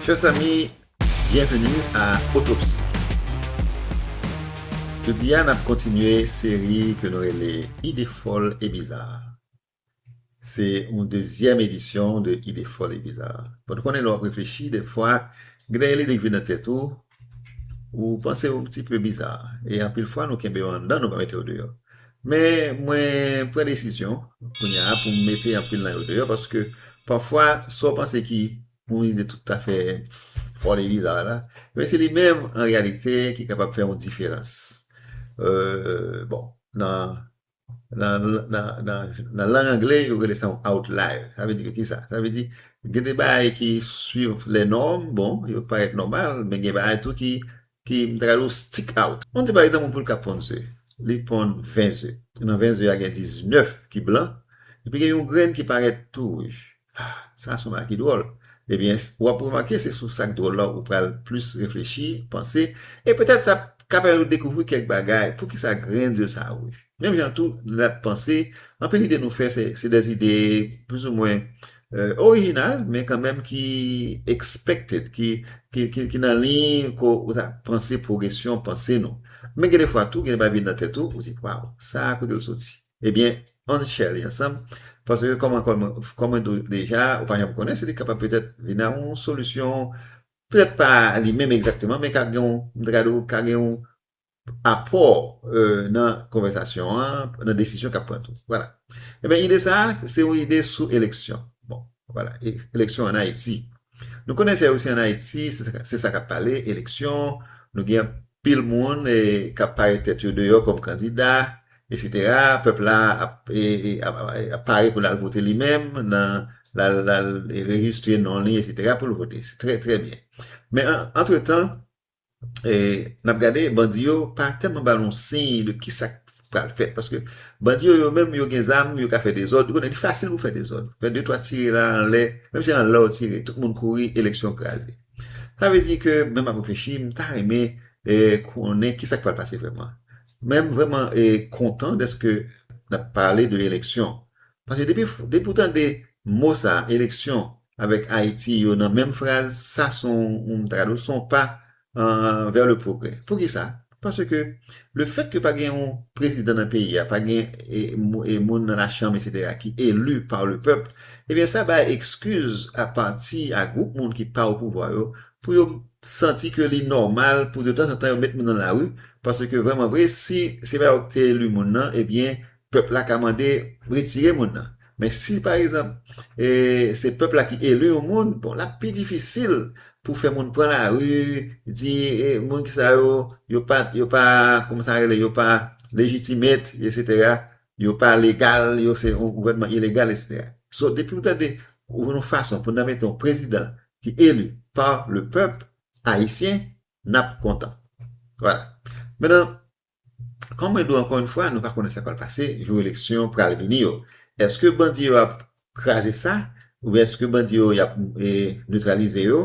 Chers amis, bienvenue à Autopsie. Jodi a nap kontinye seri ke nou rele Ide fòl e biza. Se yon dezyèm edisyon de Ide fòl e biza. Bon ou konnen lè w ap reflechi dèfwa gen dèyè lide k vin nan tèt ou, ou panse yo ti pe biza e anpil fwa nou kenbe yo anndan nou pa mete yo deyò. Men mwen pran desizyon kounya pou m mete anpil nan yo deyò paske pafwa sa w panse ki yon ide toutafè fòl e biza la men se li menm an reyalite ki kapab fè yon diferans bon nan Nan lang angle yo rele sa yon outlier. Sa vle di ke kisa? Sa vle di gen de bagay ki swiv lè nòm, bon, yo parèt nòmal, men gen bagay tou ki, ki m ta ka di ou stick out. An nou di pa egzanp yon poul k ap ponn ze, li ponn 20 ze. Nan 20 ze a gen 19 ki blan, epi gen yon grenn ki parèt tou wouj. Ah, sa sou Maki dwòl. Ebyen, w ap remake se sou sa k dwòl la ou pral plis reflechi, panse, e petèt sa ka pèmèt ou dekouvri kèk bagay, poukisa grenn ze sa wouj. Menm jan tou lè n ap panse, anpil ide nou fè se de zide plouzimwen orijinal, men kanmenm ki expected, ki nan liy ke ou ta panse pwogresyon panse nou. Men gen de fwa tou, gen de bagay vin nan tèt ou, ou di, waw, sa a kote l soti? Ebyen, ann share li ansanm, paske kòman kòm mwen di w deja, ou pa janm konnen si li kapab petèt vin a yon solisyon, petèt pa li menm egzakteman, men ka gen yon, m ta ka di w, ka gen yon apò nan konvèsasyon an, nan desizyon k ap pran tou. Vwala. Ebyen ide sa a, se yon ide sou eleksyon. Bon, vwala, eleksyon ann Ayiti. Nou konnen se osi ann Ayiti, se sa k ap pale, eleksyon, nou gen anpil moun k ap pare tèt yo deyò kòm kandida, Etc pèp la ap pare pou lal vote li menm nan lal rejistre non li etc poul vote se trè trè byen men antre tan nap gade bandi yo pa tèlman ba nou siy de kisak pral fèt paske bandi yo yo menm yo gen zam yo ka fè dezòd ou konnen li fasil pou fè dezòd fè de twa tire la anlè menm si anlè ou tire tout moun kouri eleksyon kraze sa vle di ke menm map reflechi mta renmen konnen kisak pral pase vrèman. Men m vrèman kontan dèske n ap pale de eleksyon. Paske depi w tande mo sa a, eleksyon avèk Ayiti yo nan menm fraz, sa s on tradosyon, s on pa vè le pwogrè. Poukisa? Paske lefètke pa gen yon prezidan nan peyi a, pa gen moun nan lachanm esetera ki eli pa le pèp, ebyen sa bay ekskiz a pati a gwoup moun ki pa opouvwa yo pou yo santi ke li nòmal pou de tanzantan yo met moun nan lari, paske vrèman vre si se pa yo ki te eli moun nan ebyen pèp la ka mande retire moun nan, men si pa egzanp se pèp la ki eli yon moun bon lap pi difisil pou fè moun pran lari di moun sa yo yo pa kòman sa rele yo pa legitimate etc. yo pa legal, yo se yon gouvènman ilegal eskse. So depiw tande ou jwenn yon fason pou nan mete yon prezidan ki eli pa le pèp ayisyen nap kontan. Vwala. Menan kòm mwen di w ankò yon fwa nou pa konnen sa k pral pase jou eleksyon pral vini yo. Eske bandi yo ap kraze sa oubyen eske bandi yo yap neutralize yo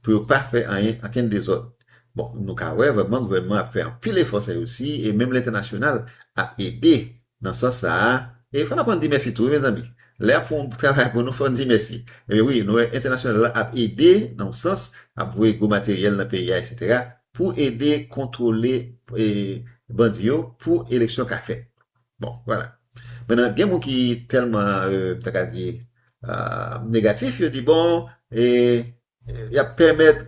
pou yo pa fè anyen ankenn dezòd. Bon nou ka wè vrèman gouvènman ap fè anpil efò sa yo si e menm lentènasyonal ap ede nan sans sa a e fò n aprann di mèsi tou wi mezanmi lè y ap fè yon travay pou nou fò n di mèsi ebyen wi nou wè entènasyonal la ap ede nan yon sans ap voye gwo materyèl nan peyi a eksetera pou ede kontwole bandi yo pou eleksyon ka fèt. Bon, vwala. Menan, gen moun ki tèlman, m ta ka di, negatif, yo di, bon, y ap pèmèt,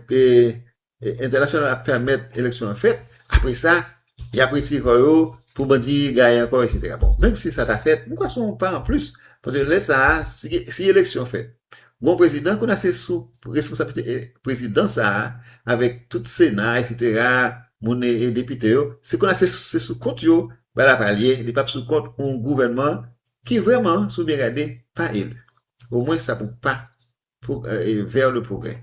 entènasyonal la ap pèmèt eleksyon an fèt, apre sa, y ap retire kò yo pou bandi gaye ankò, eksetera. Bon, menm si sa ta fèt, m kwè se yon pa anplis, paske lè sa a, si eleksyon fèt, Bon prezidan kounye a se sou responsablite prezidan sa a avèk tout sena eksetera moun e depite yo se kounye a se sou kont yo bal la pral ye li pap sou kont yon gouvènman ki vrèman si w byen gade pa elu o mwen sa pou pa vè le pwogrè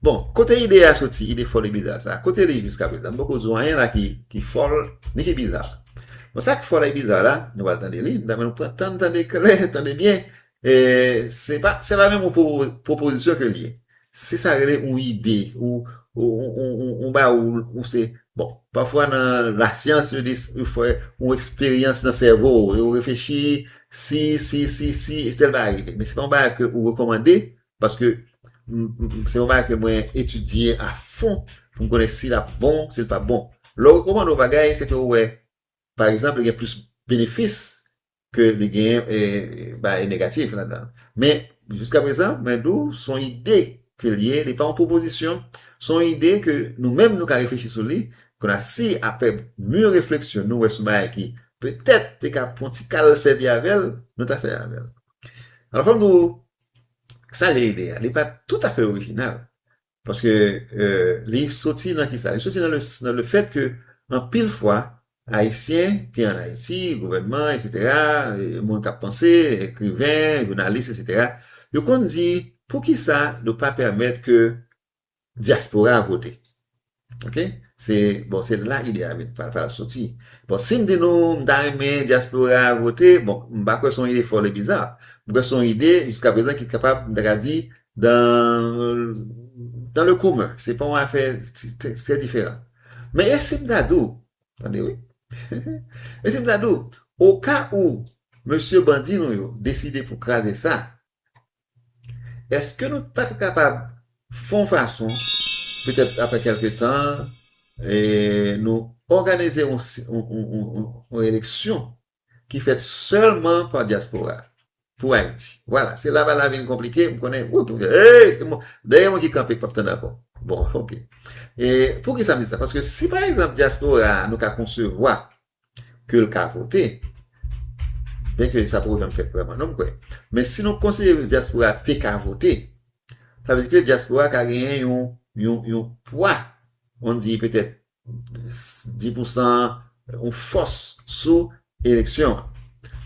bon kote ide a soti ide fòl e biza sa a kote li jiska prezan m poko di anyen la ki fòl ni ki biza bon sa k fòl e biza la nou pral tande li m ta mande nou pran tan n tande klè tande byen Se pa se pa menm yon pwopozisyon ke li ye. Se sa rele yon ide ou yon bagay ou se bon. Pafwa nan lasyans yo di yo fè yon eksperyans nan sèvo ou. Yo reflechi si, si, si, si tèl bagay rive. Men se pa yon bagay ke ou rekòmande paske se yon bagay ke mwen etidye a fon pou m konnen si l ap bon, si l pap bon. Lè ou rekòmande yon bagay se ke ou wè pa egzanp li gen plis benefis ke li genyen bagay negatif ladan. Men, jiska prezan, mwen di w, s on ide ke l ye, li pa yon pwopozisyon, s on ide ke nou menm nou ka reflechi sou li, konn a si aprè mûr refleksyon nou wè s on bagay ki petèt te ka pou yon ti kal sèvi avè l, nou ta sèvi avè l. Alò fò m di w, sa l ye ide a, li pa toutafè orijinal, Paske li soti nan kisa? Li soti nan le fèt ke anpil fwa Ayisyen ki an Ayiti, gouvènman, etsetera, moun kap panse, ekriven, jounalis, etsetera, yo konn di poukisa nou pa pèmèt ke dyaspora vote? Ok? Se, bon, se la ide a vin pral soti. Bon, si m di nou m ta renmen dyaspora vote, bon, m pa kwè son ide fòl e biza. M kwè son ide jiska prezan ki kapab, m ta ka di, Dan le komen, se pa yon afè trè diferan. Men e si m ta di w, tande wi, e si m ta di w, oka ou mesye bandi nou yo deside pou kraze sa, èske nou pa t kapab fè yon fason, petèt aprè kèlke tan, nou òganize yon eleksyon ki fèt sèlman pa dyaspora pou Ayiti. Vwala, se la ba la vin konplike, m konnen, woup, eey, dè gen moun ki kanpe k pap tande ankò. Bon, ok. E pou ki sa m di sa? Paske si pa egzanp dyaspora a nou ka konsevwa ke l ka vote, byen ke sa poko janm fèt vreman non m kwè, men si nou konsidere dyaspora a te ka vote, sa vle di ke dyaspora a ka genyen yon, yon, yon pwa, on di petèt 10 pou san an yon fòs sou eleksyon an.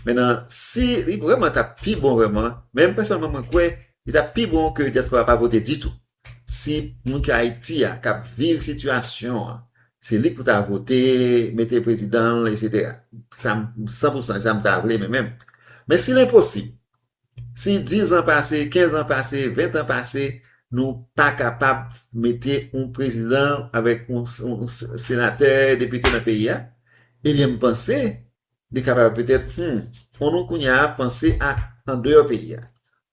Men nan si li vreman ta pi bon vreman, men mwen pèsonèlman mwen kwè li ta pi bon ke dyaspora pa vote ditou. Si moun ki Ayiti a kap viv sitiyasyon an, se li pou ta vote, mete prezidan l, etc. Sa m 100 pou san, sa m ta vle men menm. Men si l enposib, Si 10 ans pase, 15 ans pase, 20 ans pase, nou pa kapab mete yon prezidan avèk yon senatè, depite nan peyi a, ebyen m panse li kapab petèt humm fò nou kounya panse a andeyò peyi a.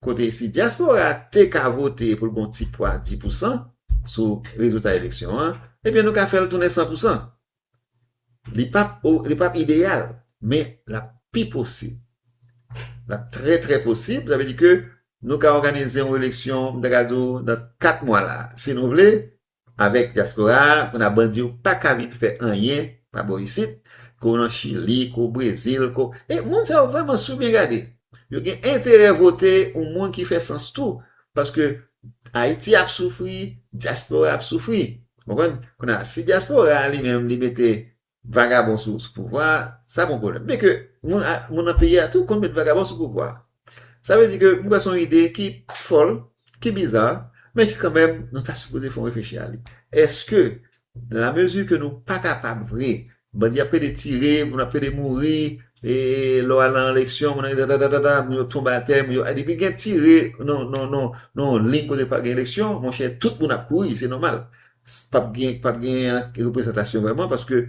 Kote si dyaspora te ka vote pou l gon ti pwa di pousan sou rezilta eleksyon an, ebyen nou ka fè l tounen san pousan. Li pap li pap ideyal, men l ap pi posib. L ap trè trè posib, sa vle di ke nou ka òganize yon eleksyon, m ta ka di w, nan 4 mwa la a, si nou vle, avèk dyaspora a, pou n ap ban di yo pa ka vin fè anyen pa bò isit, ke w nan Chili, ke w Brezil, ke w, e moun sa yo vrèman sou byen gade. Yo gen enterè vote yon moun ki fè sans tou, Paske Ayiti ap soufri, dyaspora ap soufri. Ou konprann? Kounye a, si dyaspora a li menm li mete vagabon sou pouvwa a, sa pon pwoblèm. Byen ke moun nan peyi a tou konn met vagabon sou pouvwa a. Sa vle di ke m kwè se yon ide ki fòl, ki biza, men ki kanmenm nou ta sipoze fè yon reflechi a li. Èske La mesure que nou pa kapab vre. Bandi ap pede tire, moun ap pede mouri, e lè w al nan eleksyon moun nan dadadaa moun yo tonbe atè, moun yo depi gen tire nan yon liy kote pral gen eleksyon monchè tout moun ap kouri se nòmal pap gen pap gen reprezantasyon vrèman paske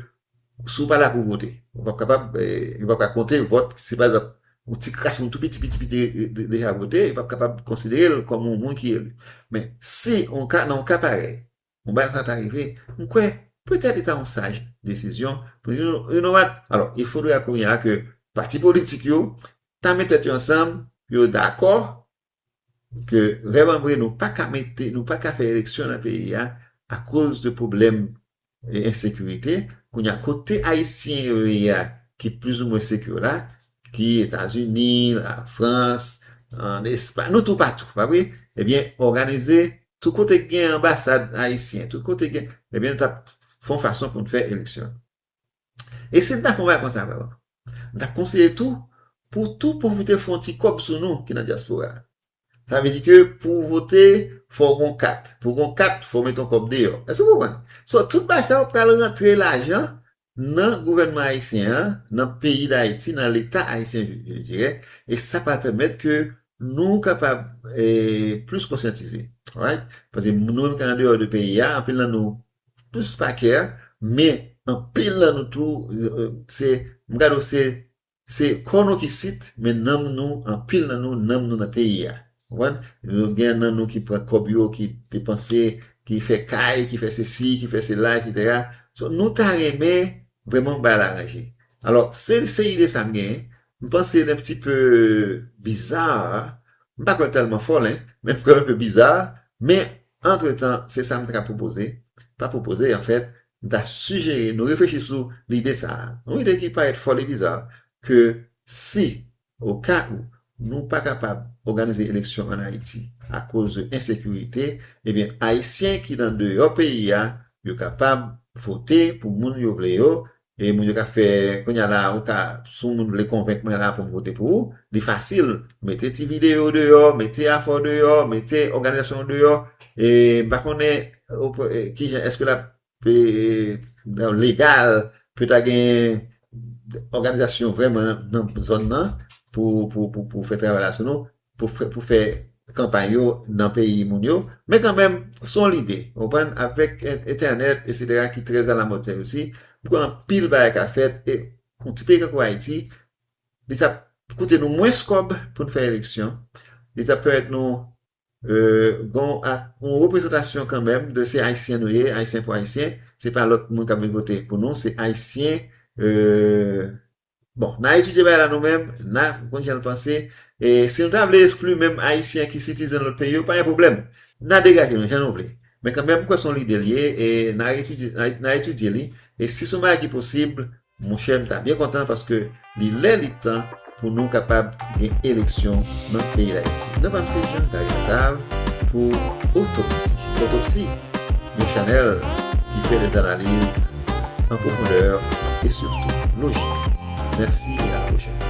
si w pa la pou w vote ou pap kapab yo pap ka konte vòt si pa egzanp yon ti kras moun tou piti piti piti deja vote yo pap kapab konsidere l kòm yon moun ki eli men si nan yon ka parèy Bon bagay sa ta rive, m kwè petèt li ta yon saj desizyon pou yo renomat. Alò, il faudrait kounye a ke pati politik yo ta met tèt yo ansanm pou yo dakò ke vrèmanvre nou pa ka mete, nou pa ka fè eleksyon nan peyi a akoz de pwoblèm ensekirite. Kounye a, kote Ayisyen yo ye a ki plizoumwen sekir la, ki Etazini, Lafrans, ann Espay, nou toupatou, pa vre? Ebyen, òganize Tout kote k gen anbasad ayisyen, tout kote gen, ebyen nou t ap fè yon fason pou n fè eleksyon. E si n ta fè yon bagay konsa vre, m t ap konseye tou pou tou pwofite fè yon ti kòb sou nou ki nan dyaspora a. Sa vle di ke pou w vote, fò w gen yon kat. Pou w gen yon kat, fò w mete yon kòb deyò. Èske w konprann? So, tout bagay sa yo pral rantre lajan nan gouvènman ayisyen an, nan peyi Dayiti, nan leta ayisyen je dirè, e sa pral pèmèt ke nou kapab plis konsyantize alright, paske nou menm ki andeyò de peyi a anpil nan nou plis pa kè, men anpil nan nou tou se m gade w se Se kò nou ki sit, men nanm nou, anpil nan nou, nanm nou nan peyi a. Konprann? Nou gen nan nou ki pran kòb yo, ki depanse, ki fè kay, ki fè sesi, ki fè sela, eksetera. So, nou ta renmen vrèman pou bagay la ranje. Alò, se, se ide sa m genyen. M panse l enpti pe bizarre, m pa kwè l tèlman fòl, hein, men m kwè l enpe bizarre, men antretan, se sa m ta ka pwopoze, pa pwopoze, anfèt, M ta sijere nou reflechi sou lide sa a, yon lide ki parèt foli e biza, ke si, o ka ou, nou pa kapab òganize eleksyon an Ayiti akoz de ensekirite, ebyen Ayisyen ki nan deyò peyi a, yo kapab vote pou moun yo vle yo, e moun yo ka fè, kounye a la, ou ka, si yon moun vle konvenk mwen la pou m vote pou ou, li fasil, mete ti videyo deyò, mete afè w deyò, mete òganizasyon w deyò, e m pa konnen Kijan eske lap legal pou ta gen òganizasyon vrèman nan zòn nan pou fè travay la sou nou, pou fè kanpay yo nan peyi moun yo. Men kanmenm, son lide. Ou konprann? Avèk entènèt esetera ki trè alamòd sè resi, poko anpil bagay ka fèt e yon ti peyi tankou Ayiti, li tap koute nou mwens kòb pou n fè eleksyon, li tap pèmèt nou Gon yon reprezantasyon kanmenm de se ayisyen nou ye, ayisyen pou ayisyen, se pa lòt moun kap vin vote pou nou, se ayisyen bon nan etidye bagay la nou menm, nan konn jan nou panse e si nou ta vle eskli menm ayisyen ki sitizen lòt peyi yo pa gen pwoblèm nan degaje nou jan nou vle men kanmenm m kwè son lide l ye e nan etidye li e si son bagay ki posib Monchè m ta byen kontan paske li lè li tan pou nou kapab gen eleksyon nan peyi Dayiti. Non pa m se Jean Gary Octave pou Otopsi. Otopsi, yon chanèl ki fè des analiz an pwofondè e sitou lojik. Mèsi e a la pwochèn.